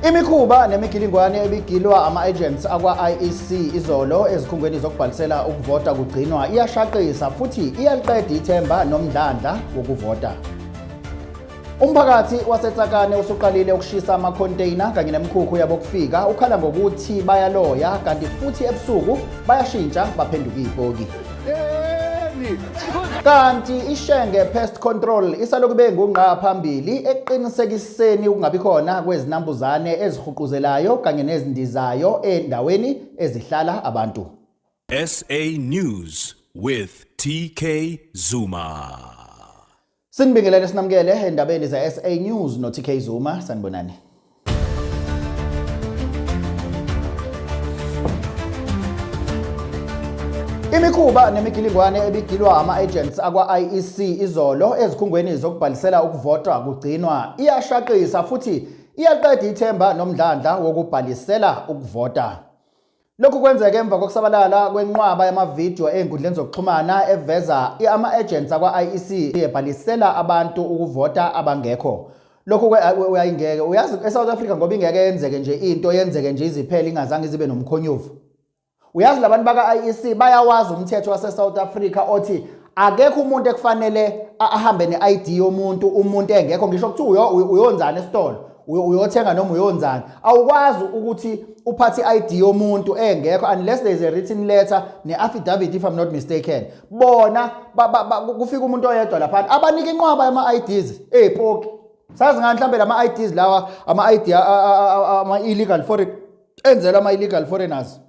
Imikhuba nemigilingwane ebigilwa ama-agents akwa-IEC izolo ezikhungweni zokubhalisela ukuvota kugcinwa iyashaqisa futhi iyaliqeda ithemba nomdlandla wokuvota. Umphakathi waseTsakane usuqalile ukushisa ama-container kanye nemikhukhu yabokufika ukhala ngokuthi bayaloya kanti futhi ebusuku bayashintsha baphenduka iyipoki. Kanti iShenge Pest Control isalokube ngungqa phambili eqinisekisa Ekuseni ukungabi khona kwezinambuzane ezihuquzelayo kanye nezindizayo endaweni ezihlala abantu. SA News with TK Zuma. Sinibingelele sinamukele endabeni ze-SA News no-TK Zuma sanibonani. Imikhuba nemigilingwane ebigilwa ama-agents akwa-IEC izolo ezikhungweni zokubhalisela ukuvota kugcinwa iyashaqisa futhi iyaqeda ithemba nomdlandla wokubhalisela ukuvota. Lokhu kwenzeke emva kokusabalala kwenqwaba yamavidiyo ey'nkundleni zokuxhumana eveza ama-agents akwa-IEC ebhalisela abantu ukuvota abangekho. lokho uyayingeke uyazi eSouth Africa ngoba ingeke yenzeke nje into yenzeke nje iziphele ingazange zibe nomkhonyovu uyazi labantu baka IEC bayawazi umthetho wase South Africa othi akekho umuntu ekufanele ahambe ne-ID yomuntu umuntu engekho ngisho ukuthi uyonzana esitolo uyothenga noma uyonzana awukwazi ukuthi uphathe i-ID yomuntu engekho unless there is a written letter ne-affidavit if I'm not mistaken bona kufika umuntu oyedwa laphana abanika inqwaba yama-ids ey'poki sazi ngani mhlawumbe la ma-ids lawa ama-id ama-illegal foreign enzelwa ama-illegal foreigners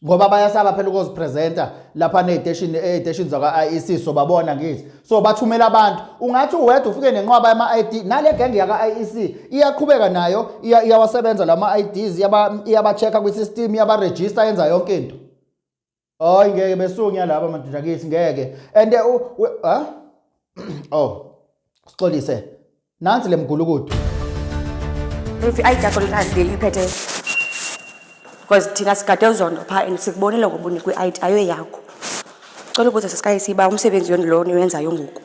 ngoba bayasaba phela ukuzipresenta lapha neziteshini eziteshini zakwa-IEC so babona ngithi so bathumela abantu ungathi uwedwa ufike nenqwaba yama-ID nale genge yaka-IEC iyaqhubeka nayo iyawasebenza lama-IDs iyaba-check-a kwi-system iyabarejista yenza yonke into Hayi ngeke besunya laba madoda kithi ngeke. And eh, u ha? Oh. Sixolise. Nansi lemgulukudu. Mfi ayijakho likazi leli phethe. Because thina sigade uzondo pha and sikubonile ngoba unikwe i-ID ayo yakho. Cela ukuze sisikaye siba umsebenzi yoni lona oyenzayo ngoku.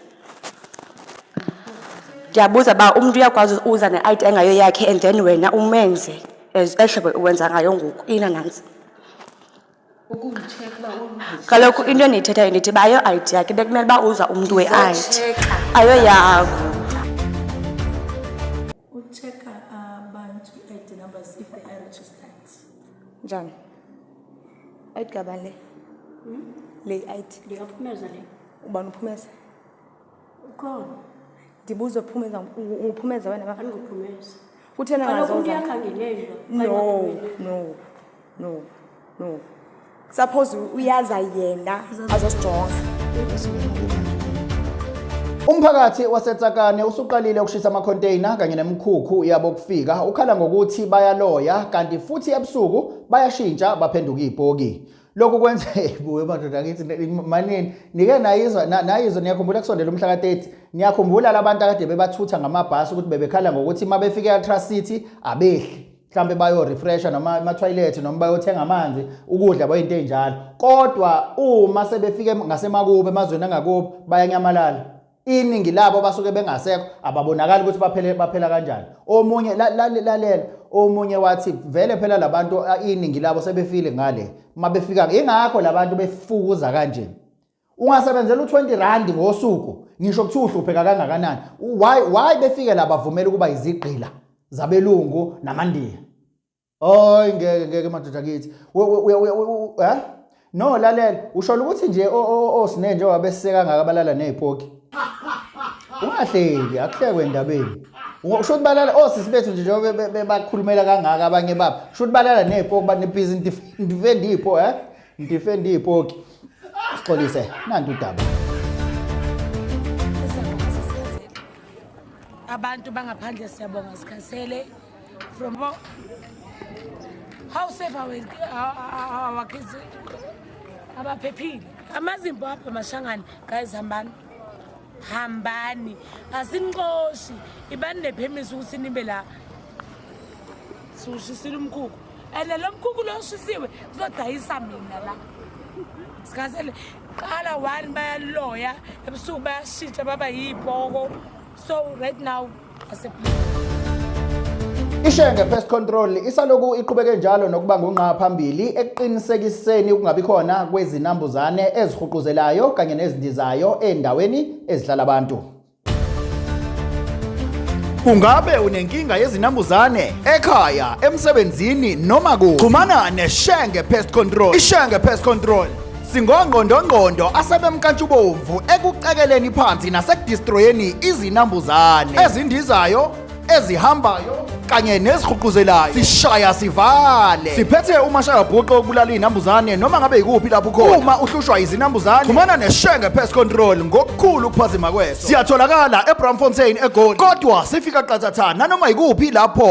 Ndiyabuza ba umuntu uyakwazi uza ne-ID engayo yakhe and then wena umenze as ehlobo uwenza ngayo ngoku. Ina nansi. kaloku into endiyithethayo ndithi bayo id yakhe bekumele uba uza umntu we-id ayo yakho ucheka abantu i-id numbers if they are registered njani id kabani le hmm? le i-id ndingaphumeza le ubani uphumeza Ukhona. Ndibuzo phumeza uphumeza wena bafana. Angiphumeza. Kuthena ngazo. Kaloku umuntu uyakhangelelwa. No, no. No. No. Suppose uyaza yena azosijonga. Umphakathi waseTsakane usuqalile ukushisa ama-container kanye nemikhukhu yabo kufika ukhala ngokuthi bayaloya kanti futhi ebusuku bayashintsha baphenduka ibhoki. lokhu kwenza buwe madoda ngithi manini nike nayizwa nayizwa niyakhumbula kusondela umhla ka-30 niyakhumbula labantu akade bebathutha ngamabhasi ukuthi bebekhala ngokuthi uma befike e-ultras city abehli mhlawumbe bayorefresha noma emathoyilethi noma bayothenga amanzi ukudla bayinto enjalo kodwa uma sebefike ngasemakubo emazweni angakubo bayanyamalala iningi labo basuke bengasekho ababonakali ukuthi baphele baphela kanjani omunye lalela omunye wathi vele phela labantu iningi labo sebefile ngale uma befika ingakho labantu befukuza kanje ungasebenzela u20 rand ngosuku ngisho kuthi uhlupheka kangakanani why why befike labavumela ukuba izigqila zabelungu namandiya Hayi ngeke ngeke madoda kithi. Eh? No lalela, ushola ukuthi nje osine nje wabeseka ngaka balala nezipoki. Ungahleki, akuhlekwe endabeni. Usho ukuthi balala osisi oh, bethu nje njengoba bebakhulumela kangaka abanye babo. Usho ukuthi balala nezipoki banebhizi ndifenda izipo, eh? Ndifenda izipoki. Sixolise, nanti udaba. Abantu bangaphandle siyabonga sikhasele From how, how safe are, we, are, are our kids? Abaphephile. AmaZimbabwe mashangane guys hambani. Hambani. Asinixoshi. Ibani nephemisa ukuthi nibe la. Siwushisile umkhukhu. And lo mkhukhu lo ushisiwe kuzodayisa mina la. Sikasele qala one bayaloya ebusuku bayashitsha baba yibhoko. So right now Ishenge Pest Control isaloku iqhubeke njalo nokuba ngungqa phambili ekuqinisekiseni ukungabi khona kwezinambuzane ezihuquzelayo kanye nezindizayo endaweni ezihlala abantu. Ungabe unenkinga yezinambuzane ekhaya, emsebenzini noma ku? Xhumana neShenge Pest Control. IShenge Pest Control singongqondongqondo asebemnkantshubomvu ekucekeleni phansi nasekudistroyeni izinambuzane ezindizayo ezihambayo kanye nezihuquzelayo sishaya sivale siphethe umashayabhuqe okubulala izinambuzane noma ngabe yikuphi lapho ukhona uma uhlushwa izinambuzane xhumana neshenge pest control ngokukhulu ukuphazima kweso siyatholakala ebramfontein egoli kodwa sifika qathatha nanoma yikuphi lapho